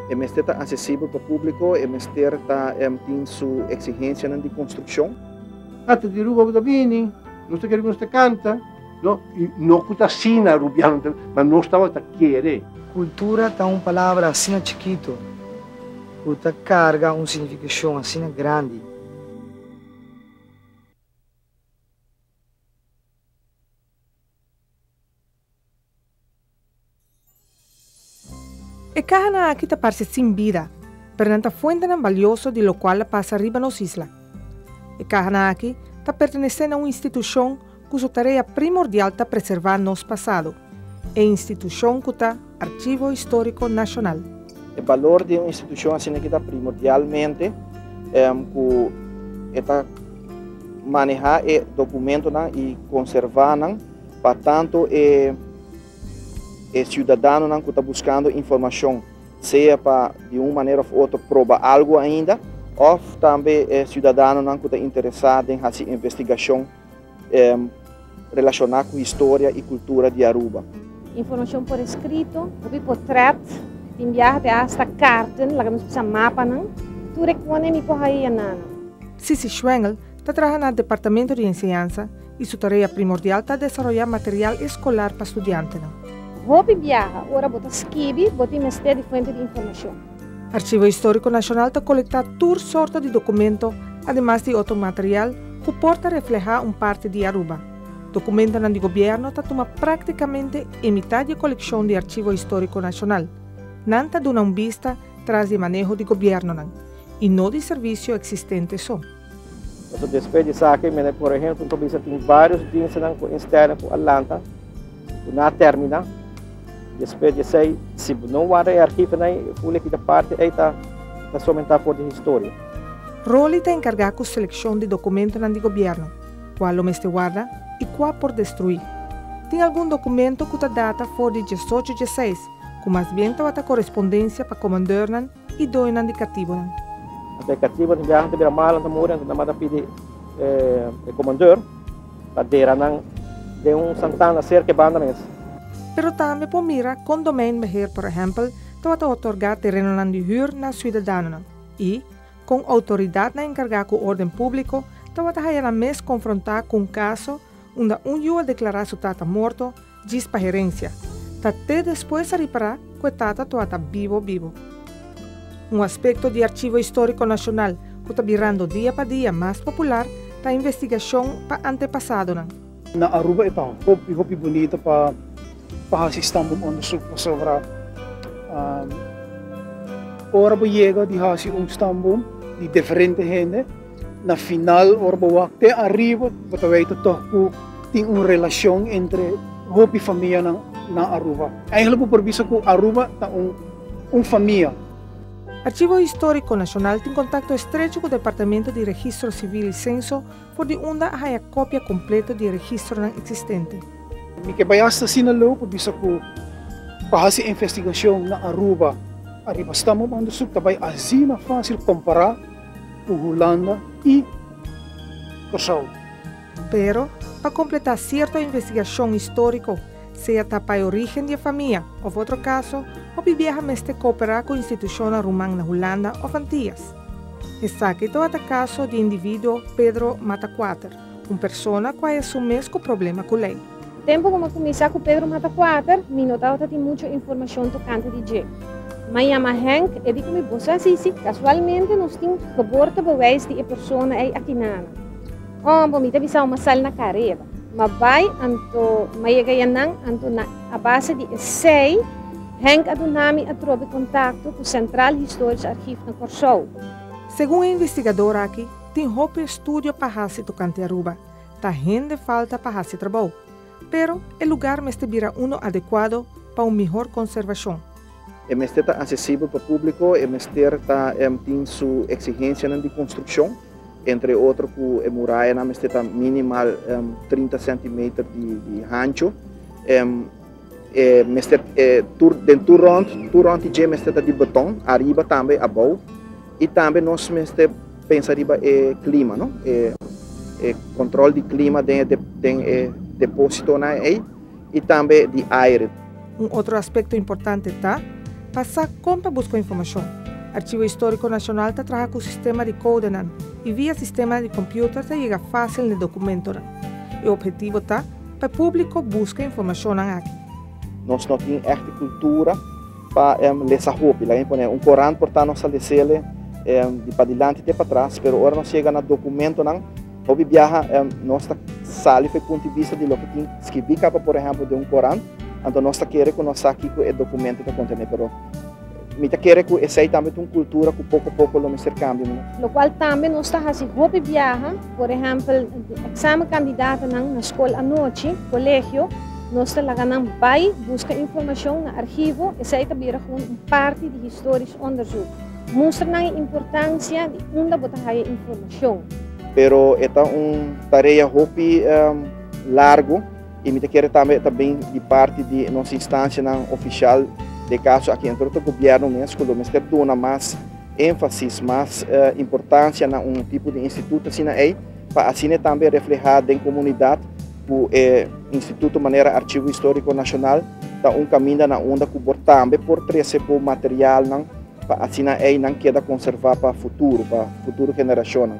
E mester ta asesibel pa públiko, e mester ta èm tin su eksigensianan di konstrukshon. Tata di Ruba bo ta bini, nos ta kere ku nos ta kanta, no, i no ku ta asina Rubiano ta bini, ma nos tabata ta kere. Kultura ta un palabra asina chikitu ku ta karga un signifikashon asina grandi. E kahanan aki ta parse sin bida, pero nan ta fuentenan balioso di lokual a pasa riba nos isla. E kahanan aki ta pertenesé na un institushon Ku su tarea primordial ta preservá nos pasado, e institushon ku ta Archivo Histórico Nacional. E balor di un institushon asina ki ta primordialmente ku e ta manehá e dokumentonan i konservá nan pa tantu e e siudadanonan ku ta buskando informashon, sea pa di un manera òf otro proba algu ainda òf tambe e siudadanonan ku ta interesá den hasi investigashon. Relacioná cu historia y cultura di Aruba. Informacion por escrito, hopi portret, tin biaha te hasta carten, laga nos bisa mapanan. Tur e cone mi por ha'i e nana. Sissy Schwengel ta traha na Departamento di Enseñansa y su tarea primordial ta desaroya material escolar pa studiantenan. Hopi biaha, ora bo ta skibi, bo tin mester di fuente di informacion. Arshivo Historico Nacional ta colecta tur sorto di documento ademas di otro material cu por ta refleha un parti di Aruba. Documentonan di gobierno ta tuma practicamente e mitad di e coleccion di Arshivo Historico Nacional. Nan ta duna un bista tras di e maneho di gobiernonan, y no di servicio existente so. Pasobra despues di esaki mi a na corre hel, cu mi probablisa tin varios dienstnan cu instellen cu a lanta, cu na a termina. Despues di esey, si bo no warda e archivonan ey, e folia cu ta parti ey ta somente for di historia. Rolly ta encarga cu seleccion di documentonan di gobierno, cua lo mester warda y cua por destrui. Tin algun documento cu ta data for di diesocho diesseis, cu mas bien tabata correspondencia pa comandeurnan i doñonan di katibonan. Hasta e katibonan ta biaha, ta bira malan, ta muri, anto nan manda pidi e komandor pa dera nan den un santana serka e banda mes. Pero tambe por mira kon domeinbeheer, por ehèmpel, tabata otorgá terenonan di hür na siudadanonan i kon outoridatnan enkargá ku órden públiko tabata hayanan mes konfrontá ku un kaso unda un yu a deklará su tata morto Djis pa herencia. Ta te despues a ripara cu e tata toa ta bibo bibo. Un aspecto di Archivo Historico Nacional cu ta birando dia pa dia mas popular ta investigacion pa antepasadonan. Na Aruba e ta hopi hopi bunito pa pa haci stambum onderzoek pasobra ora bo yega di haci un stambum di diferente hende, Na final, ora bo wak te ariba, bo ta wei tatoh ku tin un relashon entre hopi famianan na Aruba. Eigenlijk bo por bisa ku Aruba ta un un famia. Archivo Histórico Nacional tin contacto estrecho cu Departamento di Registro Civil y Censo for di unda a haya copia completo di e registronan existente. Mi ke bai hasta asina lou pa bisa ku pa hasi investigacion na Aruba ariba Stamboom Onderzoek ta bai asina facil compara ku Hulanda i Kòrsou. Pero, pa kompletá sierto investigashon históriko, sea ta pa e orígen di e famia òf otro kaso, hopi biaha mester kooperá ku institushonnan ruman na Hulanda òf Antias. Esaki tabata kaso di e individuo Pedro Mataquater. Un persona ku a esun mes ku problema ku lei. Tempu ku mi a kuminsá ku Pedro Mata Kuater, mi no tabata tin muchu informashon tokante di dje. Mi a yama Henk, e di ku mi, Bo sa si, si. Kasualmente nos tin geboortebewijs di e persona ei aki nana. Òm, bo mi ta bisa bo ma sali na kareda. Ma bai, anto mi a yega ya nan, anto na a base di esei Henk a duna mi atrobe kontakto ku Sentral Historisch Archief na Kòrsou. Segun e investigador aki, Tin hopi estudio pa hasi tokante Aruba. Ta hende falta pa hasi trabou. Pero e lugar mester bira uno adekuado pa un mihor konservashon. E mester ta asesibel pa públiko, e mester ta tin su eksigensianan di konstrukshon, entre otro ku e murayanan mester ta minimal trinta sentimeter di hancho. E mester e tur den tur rond, tur rond di dje mester ta di beton, ariba tambe abou. I tambe nos mester pensa riba e klima, no? E, e kontrol di klima den e, de, den e depósitonan ei i tambe di aire. Un otro aspekto importante ta pa sa kon pa buska informashon. Archivo Histórico Nacional ta traha ku sistema di kodenan i via sistema di kompiuter ta yega fásil n'e dokumentonan. E ophetivo ta. pa e públiko buska informashonnan aki. Nos no tin ehte kultura pa lesa hopi. Laga mi pone un korant por ta nos a lesele di padilanti te patras, pero ora nos yega na dokumentonan, hopi biaha nos ta sali ku e punto di bista di loke tin skirbí kaba, por ehèmpel den un korant, anto nos ta kere ku nos sa kiko e dokumento ta kontené, pero. Mi ta kere ku esei tambe ta un kultura ku poko poko lo mester kambia. Lo kual tambe nos ta hasi hopi biaha, por ehèmpel eksamen kandidatonan na skol anochi, kolegio, nos ta laga nan bai buska informashon na arhivo, esei ta bira gou un parti di historisch onderzoek. Mustra nan e importansia di unda bo ta haya informashon. Pero e ta un tarea hopi largu. Y mi ta kere tambe e ta bin di parti di nos instancianan oficial de caso aki dentro ta gobierno mes cu lo mester duna mas enfasis, mas importancia na un tipo di instituto asina ey pa asina e tambe refleha den comunidad cu e instituto manera Archivo Historico Nacional ta un caminda na unda cu bo tambe por trece bo materialnan pa asina ey nan keda conserva pa futuro, pa futuro generacionnan.